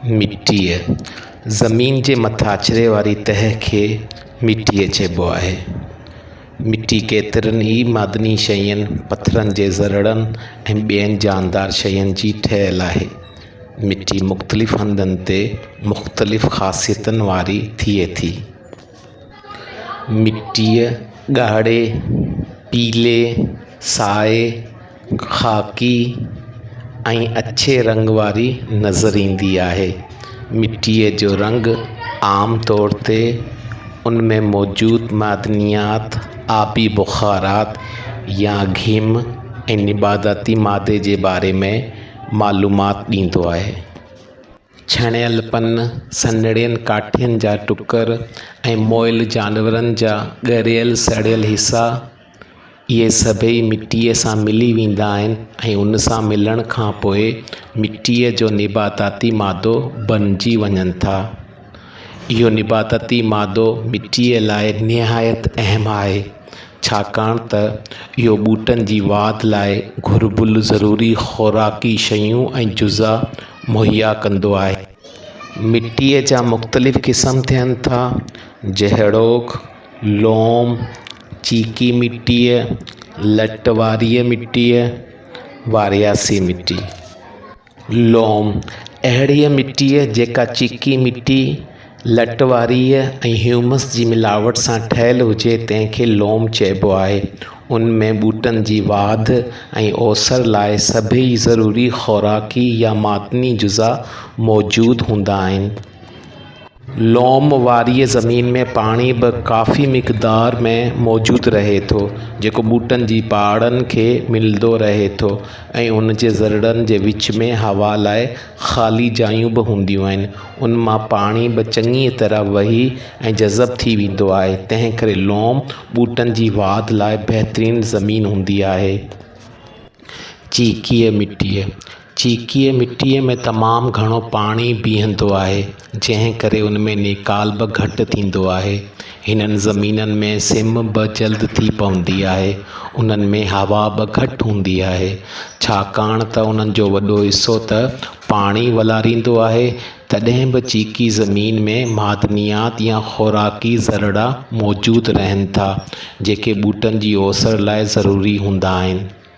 مٽيء، زمين جي مٿاڇري واري تهه کي مٽيء چئبو آهي. مٽي ڪيترن ئي معدني شين، پٿرن جي ذرڙن ۽ ٻين جاندار شين جي ٺهيل آهي. مٽي مختلف هنڌن تي مختلف خاصيتن واري ٿئي ٿي. مٽيء ڳاڙهي، پيلي، سائي، خاڪي ۽ اڇي رنگ واري نظر ايندي آهي. مٽيء جو رنگ عام طور تي ان ۾ موجود معدنيات، آبي بخارات يا گهم ۽ نباتاتي مادي جي باري ۾ معلومات ڏيندو آهي. ڇڻيل پن، سنهڙين ڪاٺين جا ٽڪر ۽ مئل جانورن جا ڳريل سڙيل حصا، اهي سڀئي مٽيء سان ملي ويندا آهن ۽ ان سان ملڻ کان پوء مٽيء جو نباتاتي مادو بنجي وڃن ٿا. اهو نباتاتي مادو مٽيء لاء نهايت اهم آهي. ڇاڪاڻ ته اهو ٻوٽن جي واڌ لاء گهربل ضروري خوراڪي شيون ۽ جزا مهيا ڪندو آهي. مٽيء جا مختلف قسم ٿين ٿا، جهڙوڪ، لوم، چيڪي مٽيء، لٽ واريء مٽيء، وارياسي مٽي. لوم، اهڙيء مٽيء جيڪا چيڪي مٽي، لٽ واريء ۽ هيومس جي ملاوٽ سان ٺهيل هجي، تنهن کي لوم چئبو آهي. ان ۾ ٻوٽن جي واڌ ۽ اوسر لاء سڀيئي ضروري خوراڪي يا معدني جزا موجود هوندا آهن. لوم واريء زمين ۾ پاڻي به ڪافي مقدار ۾ موجود رهي ٿو، جيڪو ٻوٽن جي پاڙن کي ملندو رهي ٿو ۽ ان جي ذرڙن جي وچ ۾ هوا لاء خالي جايون به هونديون آهن. ان مان پاڻي به چڱيء طرح وهي ۽ جذب ٿي ويندو آهي، تنهن ڪري لوم ٻوٽن جي واڌ لاء بهترين زمين هوندي آهي. چيڪيء مٽيء. چيڪيء مٽيء ۾ تمام گهڻو پاڻي بيهندو آهي، جنهن ڪري ان ۾ نيڪال به گهٽ ٿيندو آهي. هنن زمينن ۾ سم به جلد ٿي پوندي آهي. انهن ۾ هوا به گهٽ هوندي آهي، ڇاڪاڻ ته انهن جو وڏو حصو ته پاڻي ولاريندو آهي، تڏهن به چيڪي زمين ۾ معدنيات يا خوراڪي ذرڙا موجود رهن ٿا، جيڪي ٻوٽن جي اوسر لاء ضروري هوندا آهن.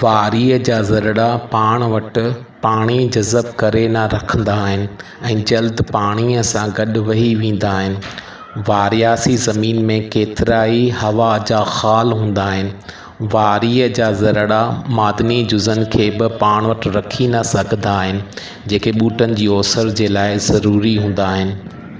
واريء جا ذرڙا پاڻ وٽ پاڻي جذب ڪري نه رکندا آهن ۽ جلد پاڻيء سان گڏ وهي ويندا آهن. وارياسي زمين ۾ ڪيترائي هوا جا خال هوندا آهن. واريء جا ذرڙا معدني جزن کي به پاڻ وٽ رکي نه سگهندا آهن، جيڪي ٻوٽن جي اوسر جي لاء ضروري هوندا آهن.